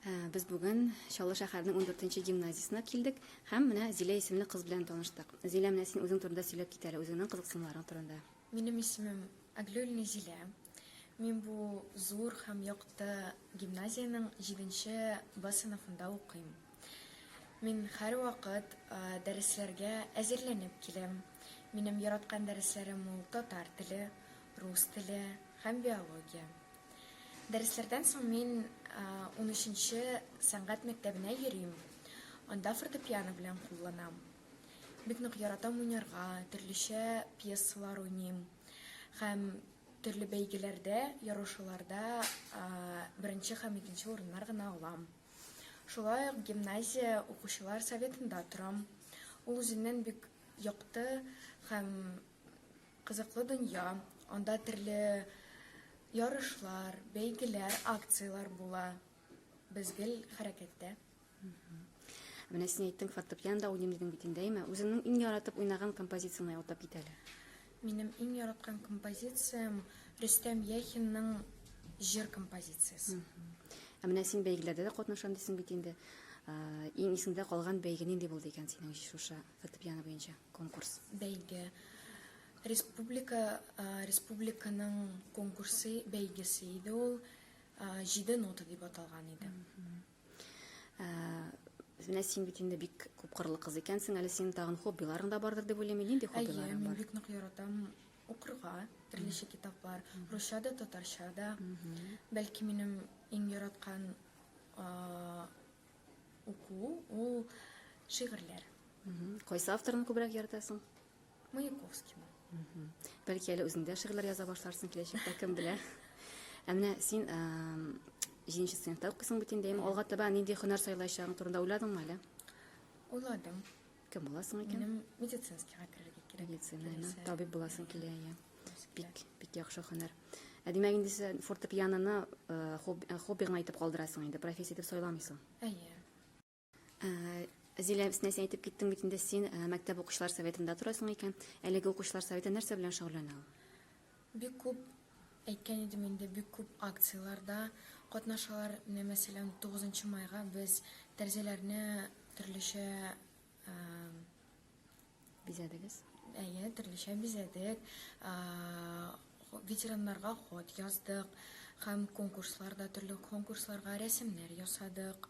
Ә, без бүген Чаллы шәһәренең 14-нче гимназиясенә килдек һәм менә Зилә исемле кыз белән таныштык. Зилә, менә син үзең турында сөйләп кит әле, үзеңнең кызыксынуларың турында. Минем исемем Аглюльна Зилә. Мин бу зур һәм якты гимназиянең 7-нче Б сыйныфында укыйм. Мин һәрвакыт дәресләргә әзерләнеп киләм. Минем яраткан дәресләрем ул татар теле, рус теле һәм биология. Дәресләрдән соң мин унөченче сәнгать мәктәбенә йөрим. Анда фортепиано белән кулланам. Бик нык яратам уйнарга, төрлечә пьесалар уйныйм һәм төрле бәйгеләрдә, ярышуларда беренче һәм икенче урыннар гына алам. Шулай ук гимназия укучылар советында торам. Ул үзеннән бик якты һәм Кызыклы дөнья, анда төрле ярышлар, бәйгеләр, акцияләр була. Без гел хәрәкәттә. Менә син әйттең, фортепианда уйныйм дидең бит инде, әйме? Үзеңнең иң яратып уйнаган композицияңне атап кит әле. Минем иң яраткан композициям Рөстәм Яхинның җыр композициясе. Ә менә син бәйгеләрдә дә катнашам дисең бит инде. Ә, Иң исеңдә калган бәйге нинди булды икән синең шушы Фортепиано буенча конкурс. Бәйге. Республика, республиканың конкурсы, бәйгесе иде ул. Җиде нота дип аталган иде. Менә син бит инде бик күп кырлы кыз икәнсең, әле синең тагын хоббиларың да бардыр дип уйлыйм. Нинди хоббиларың бар? Әйе, мин бик нык яратам укырга, төрлечә китаплар, русча да, татарча да. Бәлки минем иң яраткан Уку ул шигырьләр. Кайсы авторны күбрәк яратасың? Маяковскийны. Бәлки әле үзең дә шигырьләр яза башларсың киләчәктә, кем белә. Ә менә син җиденче сыйныфта укыйсың бит инде, алга таба нинди һөнәр сайлаячагың турында уйладыңмы әле? Уйладым. Кем буласың икән? Минем медицинскийга керергә кирәк. Медицина, Киләсе. табиб буласың килә, иә. Бик, бик яхшы һөнәр. Ә димәк, инде син фортепианоны э, хоб- э, хобби гына итеп калдырасың инде, профессия итеп сайламыйсың. Әйе. Ә, Зилә, син нәрсә әйтеп киттең бит инде, син ә, мәктәп укучылар советында торасың икән. Әлеге укучылар советы нәрсә белән шөгыльләнә ул? Бик күп, әйткән идем инде, бик күп акцияләрдә катнашалар. Менә, мәсәлән, тугызынчы майга без тәрәзәләрне төрлечә бизәдегез. Әйе, төрлечә бизәдек. Ветераннарга хат яздык һәм конкурсларда, төрле конкурсларга рәсемнәр ясадык.